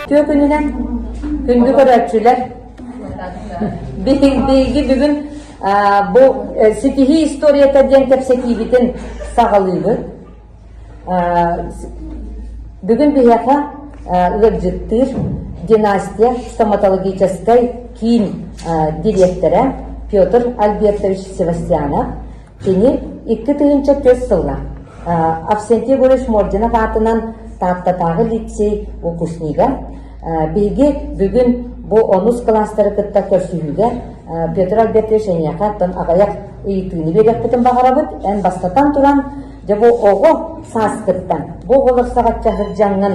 Түөкүнүнэн күндү көрөөччүлэр, биһиги бүгүн бу ситиһии историята диэн кэпсэтиибитин саҕалыыбыт. Бүгүн биһиэхэ ыалдьыттыыр династия стоматологическай киин дириэктэрэ Петр Альбертович Севастьянов Кини икки тыһыынча түөрт сыллаах Авсентий Егорович Мординов аатынан Тааттатааҕы лицей выпускнига биһиги бүгүн бу онус кылаастары кытта көрсүһүүгэ Петр Альбертович эйиэхэ оттон аҕайах ыйытыыны биэриэхпитин баҕарабыт эн бастатан туран дьэ бу оҕо сааскыттан бу оҕолор саҕачча сылдьаҥҥын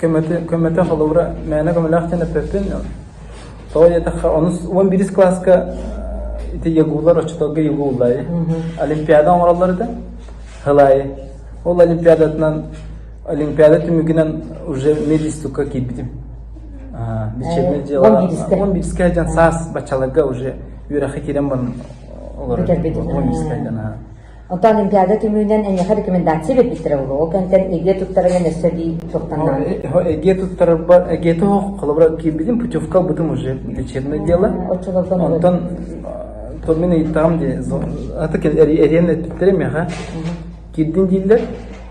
көмөтө холобура мээнэ көмөлөөх диэн эппиппин тоҕо диэтэххэ онус уон бирис кылааска ити ягуулар оччоторго ягуу улаайы олимпиада оҥороллор этэ хылаайы ол олимпиадатынан олимпиада түмүгүнэн уже медистукка киирбитим лечебный дела он бирискэ дьон саас баччаларга уже үөрэххэ киирэн баран олорор он бирискэ дьон Онтон Олимпиада түмүүнэн эйиэхэ рекомендация биэрбиттэрэ буолуо. Ол кэнниттэн эге туттарынан өссө дии суохтанаҕын. Эге туттарарбар, эге тоһох холобура киирбитим путевка бытым уже лечебное дело. Оччолортон Онтон томин ыйыттаҕым дии. Аты эриэн эттэрим яха. Кирдин дииллэр.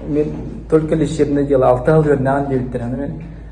Мен только лечебное дело алты хыл көрнөҕөн диэбиттэр.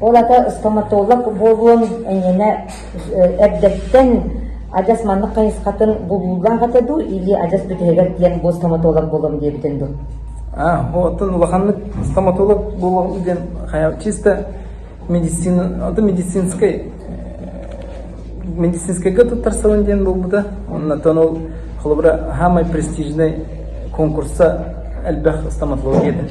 Ол ата стоматолог буолуон эйиэнэ эрдэттэн адьас маннык хайысхатын булуулаах этэ дуу или адьас бүтэһигэр диэн бу стоматолог буолуом диэбитин дуу? А, оттон улаханнык стоматолог буолуом диэн чисто медицина это медицинскай медицинскайга туттарсалын диэн буолбута оннаттан ол холобура самый престижный конкурса элбэх стоматология этэ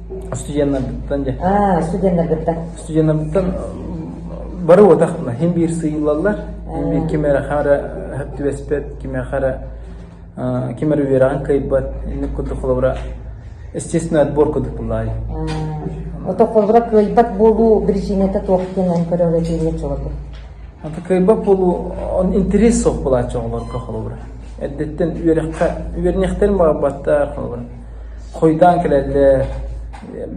Студеннаргыттан дьэ. Аа, студеннаргыттан. Студеннаргыттан бары уотахтына хин биир сыйыллаллар, хин биир ким эрэ хара түбэспэт, ким эрэ хара ким эрэ үөрэҕин кыйбат, инник курдук холобура естественно отбор курдук булаай. Ото холобура кыйбат буолуу причинета туох кенен көрөҕө тириэ чолобу. Ата кыйбат буолуу он интерес суох булааччы оҕолорго холобура. Эддеттен үөрэххэ үөрнэхтэрин баҕарбаттар холобура. Хойутаан кэлэллэр,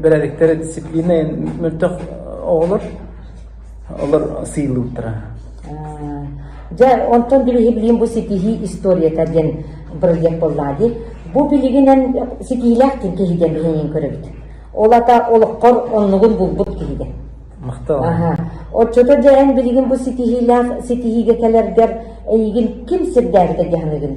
бэрээдэктэрэ дисциплиннай мөлтөх оҕолор, олор сыылыылтара. Дьэ, онтон билиһиблиин бу ситиһии историята диэн проект буоллаа дии. Бу билигинэн ситиилээхтин киһиген биһиҥин көрөбүт. Ол ата олоххор оннугун булбут киһиген. Махтал. Аха. Отчото дьэ эн билигин бу ситиһиилээх ситиһиигэ кэлэргэр эйигин ким сирдээбитэ диһаныгын?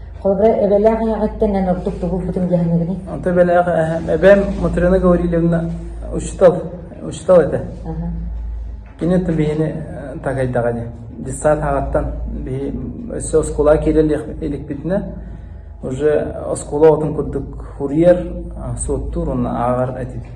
Холобура, эбэлээх эһэҕиттэн эн ордук тугу булбутуҥ дьаһаныгыный? Онто эбэлээх эһэм, эбэм Мотрена Гаврильевна учитал, учитал этэ. Кини оттон биһини тагайдаҕа ини. Детсад хаҕаттан биһи өссө оскуола киирэн иликпитинэ, уже оскуола отун курдук хуриер, суоттуур уонна ааҕар этибит.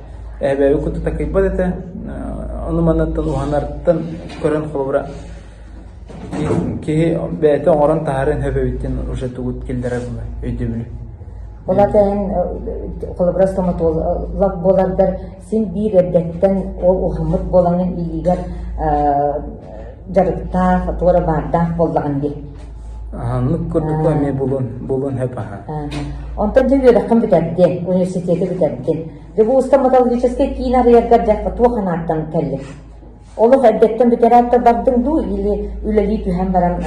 Эбээби кытта такыйбат этэ, ону-манаттан уһанартан көрөн холобура киһи бэйэтэ оҥорон таһааран өбөбүт диэн уже тугут киллэрэр була өйдөбүлү. Олата эн холобура стоматолог буолардар син биир эрдэттэн ол уһуммут буолаҥын илиигэр дьарыктаах, туора баардаах буоллаҕын дии. Аһыннык курдук да эмиэ булун, булун сөп аһаа. Онтон дьэ үөрэххин бүтэрдин, университеты бүтэрдин. Дьэ бу устан металлургическай киин арыйаргар дьахха туох анааттан кэллин? Олох эрдэттэн бүтэрээттэр бардың дуу или үлэлии түһэн баран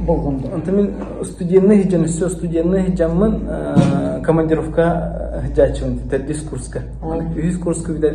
булгун дуу? Онтон мин студенный сыдьан өссө студенный сыдьаммын командировка сыдьааччыбын бүтэр дискурска. Үһүс курска бүтэр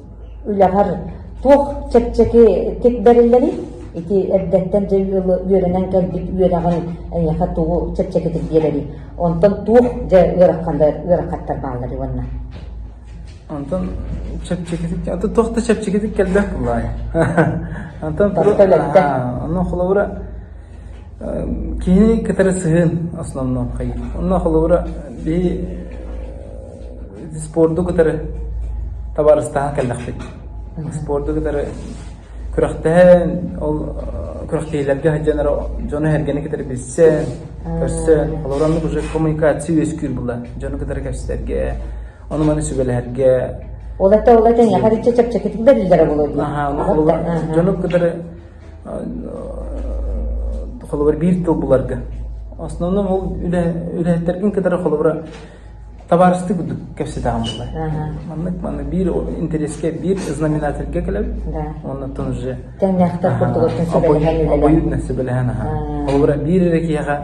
үлэҕэр туох чэпчэки иккит бэриллэрий? Ити эрдэттэн дьэ ыалы үөрэнэн кэлбит үөрэҕин эйиэхэ тугу чэпчэкитик биэрэрий? Онтон туох дьэ ыараххандар ыарахаттар баалларый уонна? Онтон чэпчэкитик онтон туох да чэпчэкитик кэлбэх буолаай. Онтон онно холобура Киһи кытары сыһыан основноххой. Онно холобура бии спорду кытары табаарыстаһан кэллэхпит. Спорду кытары күрэхтэһэн, ол күрэхтэһиилэргэ сылдьан эрэ дьону-сэргэни кытары билсэн, көрсөн, холобура оннук уже коммуникация үөскүүр була дьону кытары көрсөргө, ону-маны сүбэлэһэргэ. Ол это ол это эйиэхэ чэпчэкитик бэриллэрэ буолуо дии. Аха, ол дьону кытары холобур биир тыл буларга. Основном ол үлэһиттэргин кытары холобура табаарыстык курдук кэпсетаҕын булар. Маннык манна биир интереске, биир знаменательге кэлэбит. Оннуттан уже кэмнээхтэр курдук сөбөлөһөн үлэлэһэн. Обоюдно сөбөлөһөн аха. Холобура биир эрэ киһиэхэ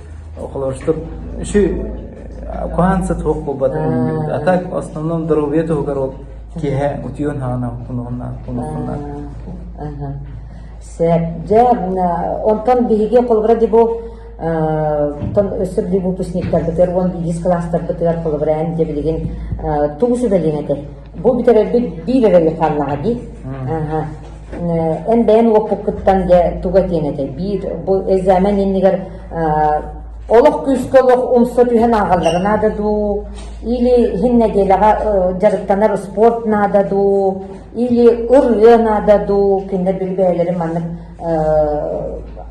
Холорустук үсү куһаанса суох буолбатын а так в основном доруобуйа туһугар ол киэһэ утуйан хаанах унуохуннаах Сээт, дьэ, онтон биһиги холобура дебо тон өссөр дебутусниктарбытыгар уон биирис кылаастарбытыгар холобура эн дьэ билигин тугу сүбэлиэҥ этэй бу бүтэрэрбит биир эрэ Михайлаҕа дии. Эн бэйэн уоппуккуттан дьэ туга диэн этэй биир бу экзамен иннигэр олох күүскэ олох умса түһэн ааҕаллара наада дуу или иһин нэдиэлэҕэ дьарыктанар спорт наада дуу или ырыа наада дуу кинилэр бэйэлэрин маннык